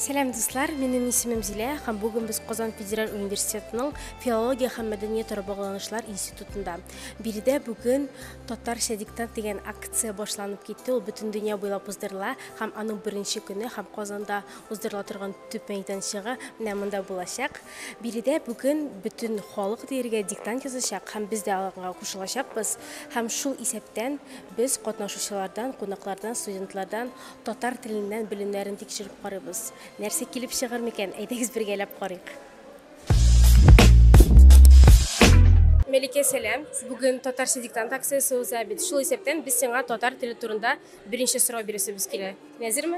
Сәлам дуслар, минем исемем Зилә һәм бүген без Казан федераль университетының филология һәм мәдәният ара багланышлар институтында. Биредә бүген татарча диктант дигән акция башланып китте. Ул бөтен дөнья буйлап уздырыла һәм аның беренче көне һәм Казанда уздырыла торган төп мәйданчыгы менә монда булачак. Биредә бүген бөтен халык диергә диктант язачак һәм без дә аларга кушылачакбыз. Һәм шул исәптән без катнашучылардан, кунаклардан, студентлардан татар теленнән белемнәрен тикшереп карыйбыз. Нәрсә килеп чыгыр микән? Әйдәгез бергәләп карыйк. Мәликә, сәлам. Бүген татарча диктант акциясе уза бит. Шул исәптән без сиңа татар теле турында беренче сорау бирәсебез килә. Нәзерме?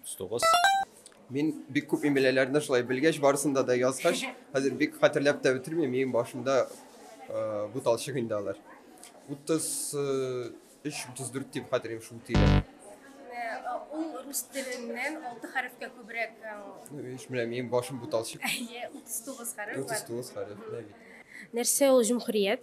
39. Мин бик күп имеләләрне шулай белгәч, барысында да язгач, хәзер бик хәтерләп тә бетермим, минем башымда э, буталчык инде алар. 33-34 дип хәтерлим шул тирә. Ул рус теленнән 6 хәрефкә күбрәк. Еш беләм, минем башым буталчык. 39 хәреф. 39 хәреф, нәрсә ул җөмһүрият?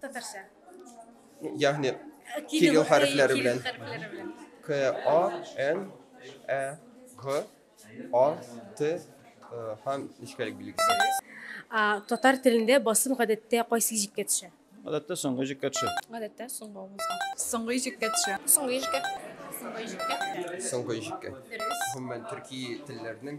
Татарча. Ягъни кирилл хәрефләре белән. К А Н Ә Г А Т һәм нечкәлек билгесе. Татар телендә басым гадәттә кайсы җиккә төшә? Гадәттә соңгы җиккә төшә. Гадәттә соңгы авызга. Соңгы җиккә төшә. Соңгы җиккә. Соңгы җиккә. Соңгы җиккә. Гомумән төрки телләрнең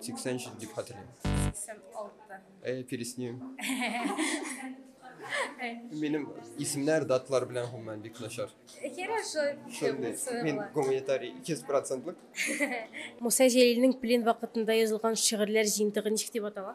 Сиксән җиде дип хәтерлим. Сиксән алты. Әй, пересним. Минем исемнәр, даталар белән гомумән бик начар. Хорошо. Мин гуманитарий 200 процентлык. Муса Җәлилнең плен вакытында язылган шигырьләр җыентыгы ничек дип атала?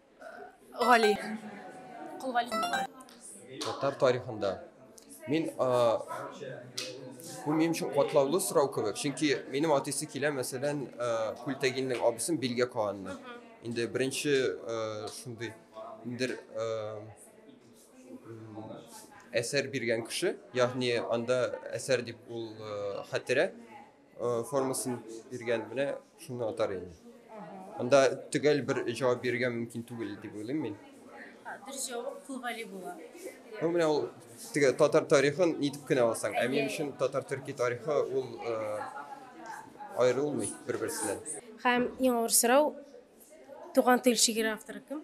Гали. Кол Гали. Татар тарихында. Мин бу минем өчен катлаулы сорау кебек, чөнки минем атысы килә, мәсәлән, Күлтәгиннең абысын Билгә Каанны. Инде беренче шундый индер әсәр биргән кеше, ягъни анда әсәр дип ул хәтерә формасын биргән менә шуны атар инде анда төгәл бер җавап бирергә мөмкин түгел дип уйлыйм мин дөрес җавап кулгали була ну менә ул теге татар тарихын нитеп кенә алсаң ә минем өчен татар төрки тарихы ул э, аерылмый бер берсеннән һәм иң авыр сорау туган тел шигырь авторы кем